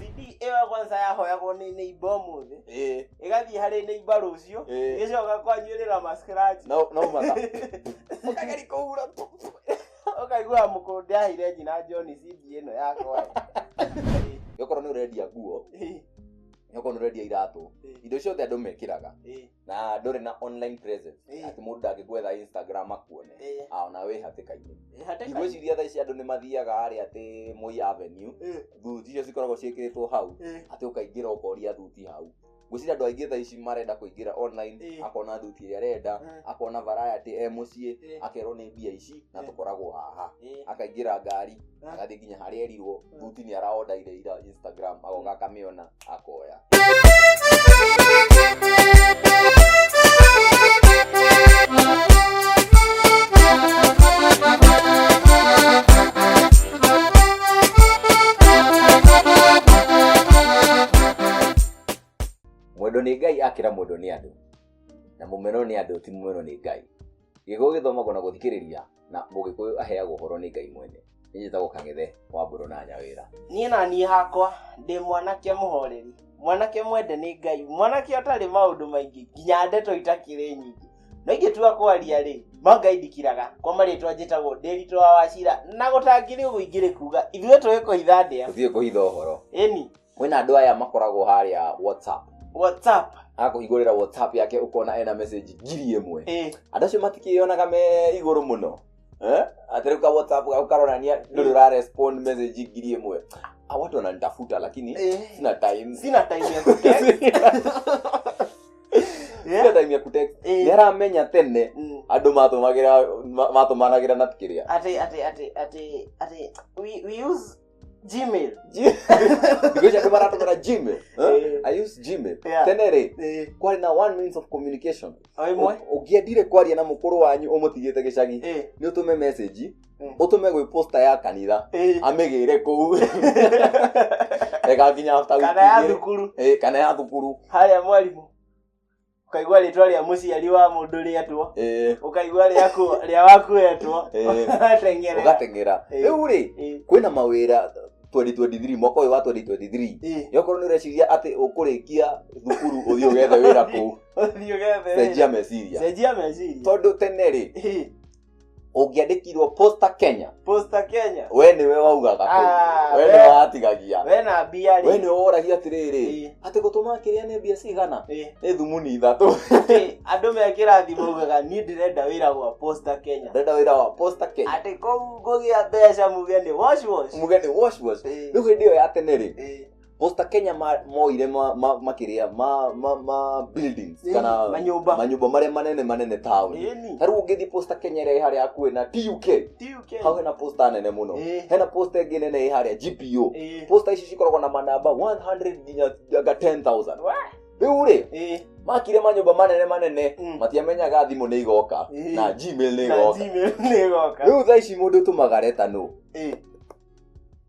CD ĩyo kwanza yahoyagwo nĩ neighbor ũmũthĩ Eh, ĩgathiĩ harĩ neighbor rũciũ Eh. ĩgĩcoka kwanjũrĩra mascratch no no matha ũkageri kũhura tu ũkaigua mũkũndĩ ahire nyina John CD ĩno yakwa gĩkorwo nĩ ũrendia nguo gĩkorwo nĩ ũrendia iratũ indo ciothe andũ mekĩraga na ndũrĩ na online presence Eh. ati mũndũ ndangĩgwetha instagram akuone Eh. ao na wĩ hatĩka-inĩ Eh, hatĩka- ndigwĩciria thaa ici andũ nĩ mathiaga harĩa atĩ moi avenue Eh, thuti icio cikoragwo ciĩkĩrĩtwo hau eh, atĩ ũkaingĩra ũkoria thuti hau ngwĩciria andũ aingĩ thaa ici marenda kũingĩra online Eh. akona thuti ĩrĩa arenda Eh. akona varayatĩ e mũciĩ Eh. akerwo nĩ mbia ici na Eh. tũkoragwo haha eh. akaingĩra ngari Eh. agathiĩ nginya harĩa erirwo Eh. thuti nĩ araondaire ira instagram agoka akamĩona akoya mwendo nĩ ngai akĩra mwendo nĩ andũ na mũmero nĩ andũ ti mũmero nĩ ngai gĩkũyũ gĩthomagwo na gũthikĩrĩria na mũgĩkũyũ aheagwo ũhoro nĩ ngai mwene nĩ njĩtagwo kang'ethe wa mbũrũ na nyawĩra niĩ na niĩ hakwa ndĩ mwanake mũhoreri mwanake mwende nĩ ngai mwanake ũtarĩ maũndũ maingĩ nginya ndeto itakĩrĩ nyingĩ no ingĩtua kwaria rĩ ma ngai ndikiraga kwa marĩtwa njĩtagwo ndĩritũ wa wacira na gũtangĩrĩ ũguo ingĩrĩ kuga ithuĩ tũgĩkũhitha ndĩa tũthiĩ kũhitha ũhoro ĩni kwĩna andå aya makoragwo harĩa whatsapp whatsapp agakũhingũrĩra whatsapp yake ũkona ena message ngiri ĩmwe eh, andå acio matikĩyonaga me igũrũ mũno Eh? atĩ rĩu ka whatsapp gau karonania ndũrĩ ũra respond message ngiri ĩmwe Ah, watu wananitafuta lakini eh, sina time sina time ya kutext. sina Yeah, time ya kutext eh, nĩ aramenya tene mm. andå matåmagä ra matåmanagä ra na kä rä a ati ati ati ati ati we, we use Gmail. Because ya kama natumia Gmail. Huh? Eh. I use Gmail. Yeah. Tenere. Eh, Kwari na one means of communication. o imwe. Ugia dire kwari na mukuru wanyu umutigite gicagi. Eh, Ni utume message. Mm. Utume gwi poster ya kanitha. eh. Amigire kuu. Ega kinya after week. Kana ya igĩrĩ. thukuru. Eh, kana ya thukuru. Haya mwalimu. ukaigua rĩtwa rĩa mũciari wa mũndũ rĩetwo eh, ukaigua rĩa kũ- rĩa wakuetwo eh, Ũgatengerera. ũgateng'era Eh. rĩu rĩ Eh, kwĩna mawĩra 2023 mwaka ũyũ wa 2023 eh, nĩokorwo nĩ ũreciria atĩ ũkũrĩkia thukuru ũthiĩ ũgethe wĩra kũu ũthiĩ ũgethe wĩra. cenjia meciria cenjia meciria tondũ tene rĩ Eh, ũngĩandĩkirwo posta kenya posta kenya we nĩwe waugaga kũu. Ah, we we- nĩwe watigagia we na mbia we rĩ nĩwe woragia atĩrĩrĩ Ĩ, atĩ gũtũma kĩrĩa nĩ mbia cigana ĩ. nĩ thumuni ithatũ Atĩ andũ me kĩrathi maugaga niĩ ndĩrenda wĩra gwa posta kenya ndenda wĩra wa posta kenya atĩ kũu ngũgĩa mbeca muge nĩ wash wash muge nĩ wash wash Ĩ, rĩu hĩndĩ ĩyo ya tene rĩ ĩ. Posta Kenya ma- moire ma- ma- makĩrĩa ma- ma- ma buildings Ĩĩ, kana manyũmba. manyũmba marĩa manene manene taũni Ĩni. ta rĩu ũngĩthiĩ posta Kenya ĩrĩa ĩ harĩa hakuhĩ na TUK TUK. hau hena posta nene mũno Ĩĩ. hena posta ĩngĩ nene ĩ harĩa GPO Ĩĩ. posta ici cikoragwo na manamba 100 nginya anga 10000 Wah. rĩu rĩ Ĩĩ. makire manyũmba manene manene Mm. matiamenyaga thimũ nĩ igoka Ĩĩ. na gmail nĩ Na igoka Gmail nĩ ĩgoka. rĩu thaa ici mũndũ ũtũmaga reta nũ Ĩĩ.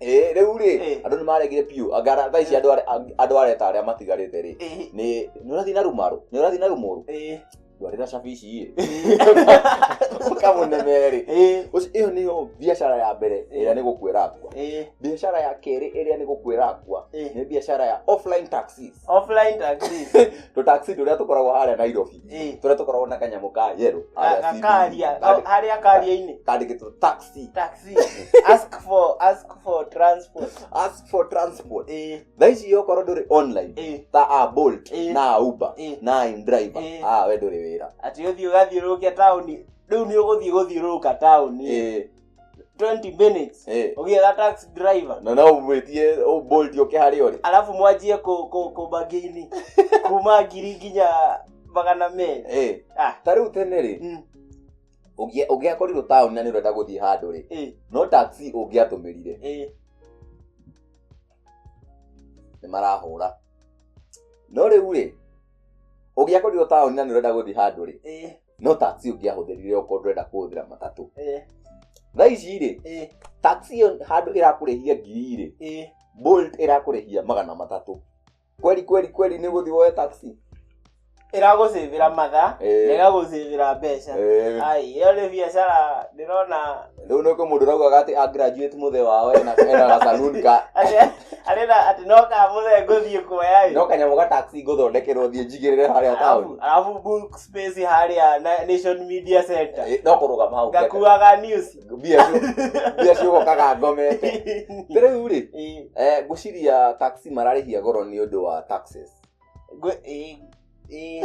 Eh, rĩu rĩ Eh. andũ nĩ maregire biũ angara thaa ici andũ are- ang- andũ areta arĩa matigarĩte rĩ Eh, nĩ nĩ ũrathiĩ na rumarũ nĩ ũrathiĩ na rumũrũ eh, ndwarĩra cabici ĩ ũkamũneme rĩ eh, Ũci- ĩyo nĩyo biacara ya mbere ĩrĩa nĩ gũkwĩra akwa eh, biacara ya kerĩ ĩrĩa nĩ gũkwĩra akwa eh. nĩ biacara ya offline taxis offline taxis tũtaxi tũrĩa tũkoragwo harĩa nairobi Eh, tũrĩa tũkoragwo na kanyamũ ka yerũ ga- ga- karia ga- harĩa karia-inĩ kandĩkĩtwo taxi taxi ask for ask for transport ask for transport eh thaa ici okorwo ndũrĩ online eh ta a bolt Eh. na a uber eh na a indriver Eh. a we ndũrĩ wĩra ati uthii ugathiururukia tauni riu ni uguthii guthiururuka tauni Eh, 20 minutes Eh. ũgĩetha taxi driver na no umwĩtie ũbolt ũke harĩa ũrĩ alafu mwanjie kũ- kũ- kũmagĩini kuma ngiri nginya magana merĩ Eh. Ah. ta rĩu tene rĩ Mm, ũngĩa- ũngĩakorirwo taũni na nĩ ũrenda gũthiĩ handũ rĩ eh, no taxi ũngĩatũmĩrire eh. nĩ marahũra no rĩu rĩ ũngĩakorirwo taũni na nĩ ũrenda gũthiĩ handũ rĩ Eh, no taxi ũngĩahũthĩrire okorwo ndũrenda kũhũthĩra matatũ eh, thaa ici rĩ eh, taxi ĩyo handũ ĩrakũrĩhia ngiri rĩ eh. bolt ĩrakũrĩhia magana matatũ kweli kweli kweli nĩ gũthiĩ woe taxi ĩragũcĩvĩra mathaa Eh. na ĩgagũcĩvĩra mbeca Eh, ai ĩyo nĩ biacara ndĩrona rĩu nĩkũ mũndũ raugaga atĩ angraduate mũthe wao ena ena gasaluni ka atĩ atĩ na- atĩ no kamũthee ngũthiĩ kuoya ĩ. no kanyamũ ga taxi ngũthondekerwo thiĩ njigĩrĩre harĩa taũni Arabu- arabu books space harĩa na- nation media center Eh, no kũrũgama hau ngeka. ngakuaga news mbia ciũ- mbia ciũgokaga ngomete Nĩ rĩu rĩ Eh, eh, ngwĩciria taxi mararĩhia goro nĩ ũndũ wa taxes ngwe- eh, eh.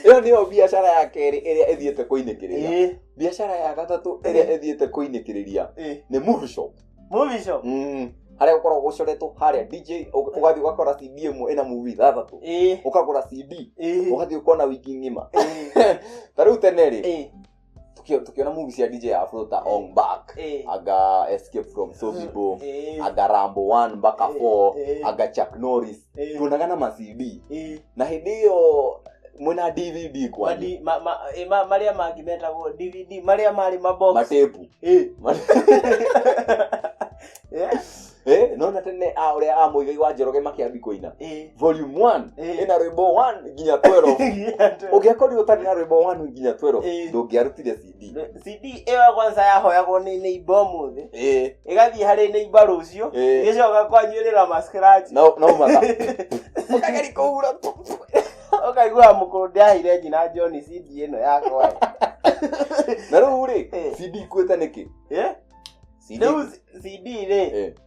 ĩyo nĩyo biacara ya kerĩ ĩrĩa ĩthiĩte kũinĩkĩrĩria Eh, biacara ya gatatũ ĩrĩa ĩthiĩte kũinĩkĩrĩria eh. nĩ move shop Movie show. Mm. harĩa gũkoragwo gũcoretwo harĩa dj ũ- ũgathiĩ ũgakora cd ĩmwe ĩna movie ithathatũ Ĩĩ. ũkagũra cd Ĩĩ. ũgathiĩ ũkona wiki ng'ima Ĩĩ. ta rĩu tene rĩ Ĩĩ. tũkĩ- tũkĩona movie cia dj afro ta ong back Ĩĩ. aga escape from sobibo Ĩĩ. aga rambo 1 mpaka 4 Ĩĩ. aga chuck norris Eh, tuonaga na macd eh, na hĩndĩ ĩyo mwĩna dvd kwa madi- ma- ma- eh, ma- marĩa mangĩ metagwo dvd marĩa marĩ mabox matepu Eh, eh, Eh, nona tene a ũrĩa a mũigai wa njoroge makĩambi kũina eh. volume 1 Eh. ĩna rwĩmbo 1 nginya 12 ũngĩakorirwo ũtarĩ na rwĩmbo 1 nginya 12 Eh. ndũngĩarutire CD. cd ĩyo kwanza yahoyagwo nĩ neighbor ũmũthĩ Eh, ĩgathiĩ harĩ neighbor rũciũ Eh. ĩgĩcoka kwanyuĩrĩra ma scratch no no matha ũkageri kũhura ũkaigua mũkũrũ ndĩahire nyina john cd ĩno yakwa na rĩu rĩ Eh. CD ikuĩte nĩkĩ Eh? CD rĩu cd rĩ Eh.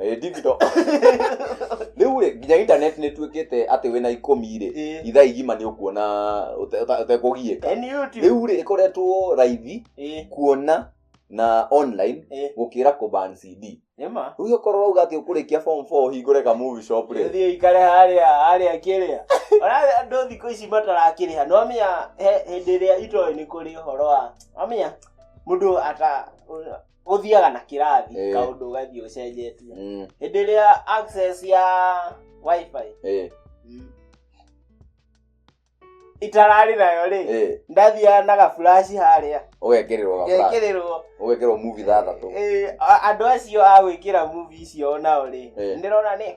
Eh, digital rĩu rĩ nginya internet nĩ tuĩkĩte atĩ wĩna ikũmi rĩ Eh, ithaa igima nĩ ũkuona ũte- ũta- ũtekũgiĩka eh, ni YouTube. rĩu rĩ ĩkoretwo raithi Eh, kuona na online eh, gũkĩra kũban cd nĩ ma. rĩu ũkorwo rauga atĩ ũkũrĩkia form 4 ũhingũre ka movie shop rĩ Thiĩ ikare harĩa harĩa kĩrĩa Ona andũ thikũ ici matarakĩrĩha no amenya he- hĩndĩ ĩrĩa itoĩ nĩ kũrĩ ũhoro wa amenya mũndũ ata ũthiaga na kĩrathi Eh. kaũndũ ũgathiĩ ũcenjetie Mm, hĩndĩ ĩrĩa access ya wifi eh, itararĩ nayo rĩ eh. ndathiaga na gaburaci harĩa ũgekererwo gabra gekĩrĩrwo ũgekerwo muvi thathatũ Eh, a- andũ acio a gwĩkĩra muvi icio nao rĩ Eh. ndĩrona nĩ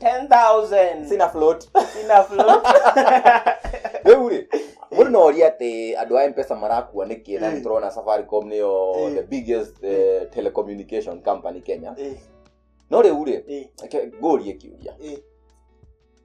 10,000. sina float Sina float. rĩu rĩ mũndũ no oria atĩ andũ a mpesa marakua nĩkĩ na Mm. nĩtũrona safaricom nĩyo Mm. the biggest eh, telecommunication company kenya Eh, no rĩu rĩ eh, reke ngũrie kĩũria eh.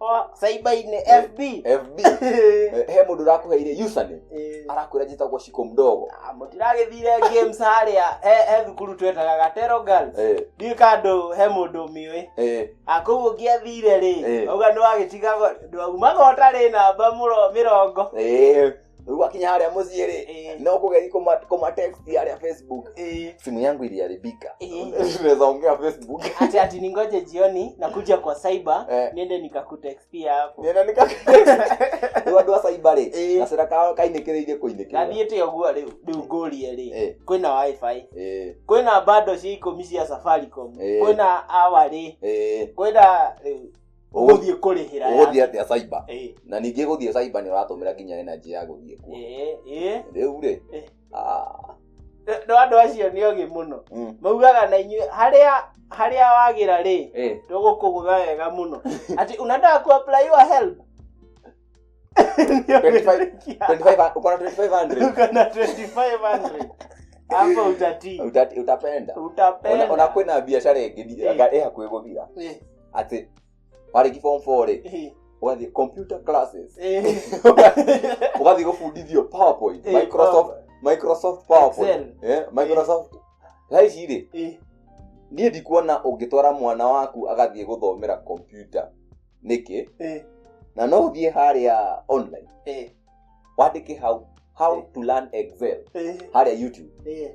Oa, saibaine fb fb Eh, he mũndũ ũrakũheire username Eh, arakwĩra njĩtagwo ciko mdogo ah, mũtiragĩthire games harĩa he- he thukuru twetaga gatero girls Eh, ndiĩ kandũ he mũndũ ũmĩũĩ eh, akũu ũngĩathire rĩ Eh. auga nĩwagĩtigago ndwaumaga ũtarĩ namba mũro- mĩrongo eh, rĩu gwakinya harĩa mũciĩ rĩ Eh, no kũgethi kũma- kũmatext harĩa facebook eh. simu yangu iliharibika Eh. unaweza ongea facebook ati ati ningoje jioni nakuja kwa cyber Eh. niende nikakutextia hapo nena nika rĩu andũ a cyber rĩ Eh. gacĩra kao kainĩkĩrĩirie kũinĩkĩrĩra gathiĩte ũguo rĩu rĩu ngũrie rĩ Eh. kwĩna wifi Eh, kwĩna bando cia ikũmi cia safaricom Eh. kwĩna awa rĩ eh. kwĩna rĩu ũgũthiĩ kũrĩhĩra ũgũthiĩ yake. atĩa cyber Eh, na ningĩ gũthiĩ cyber nĩ ũratũmĩra nginya energy ya gũthiĩ kuo eh, eh. rĩu rĩ Eh. ah, no andå acio nä ogä må no mm, maugaga na inyuä harä harä a wagä ra rä eh. tå gå kå gå tha wega må no atä unataka kuapply your help 25 25 uko na 2500 ukona 2500 hapo utatii Uta- utapenda Ona- ona utapenda kwä na biacara ä ngä Eh. ä hakuä gå thira Eh. atĩ warĩki form four rĩ Eh, ũgathiĩ computer classes eh. ũgathiĩ gũbundithio powerpoint Eh, microsoft microsoft powerpoint Excel. eh, microsoft thaa ici rĩ Eh, niĩ ndikuona ũngĩtwara mwana waku agathiĩ gũthomera computer nĩkĩ eh, na no ũthiĩ harĩa online eh, wandĩke how how to learn excel eh, harĩa youtube eh.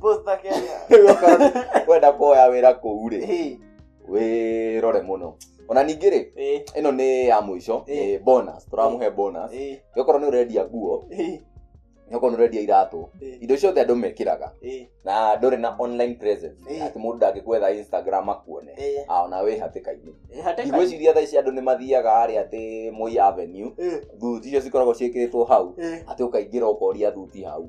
Posta Kenya. Rĩu okorwo wenda kuoya wĩra kũu rĩ Hey, wĩrore mũno ona ningĩ rĩ hey, ĩno nĩ ya mũico Eh. nĩ bonus tũramũhe bonus hey, okorwo nĩ ũrendia nguo hey, okorwo nĩ ũrendia iratũ hey, indo ciothe andũ mekĩraga hey, na ndũrĩ na online presence Eh. atĩ mũndũ ndangĩkwetha instagram akuone hey. Ah, ona wĩ hatĩka-inĩ Eh, hatĩka- ndigwĩciria thaa ici andũ nĩ mathiaga harĩa atĩ moi avenue Eh, thuti icio cikoragwo ciĩkĩrĩtwo hau eh, atĩ ũkaingĩra ũkoria thuti hau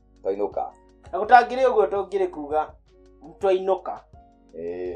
twainũka na gũtangĩrĩ ũguo tũngĩrĩ kuga twainũka ĩĩ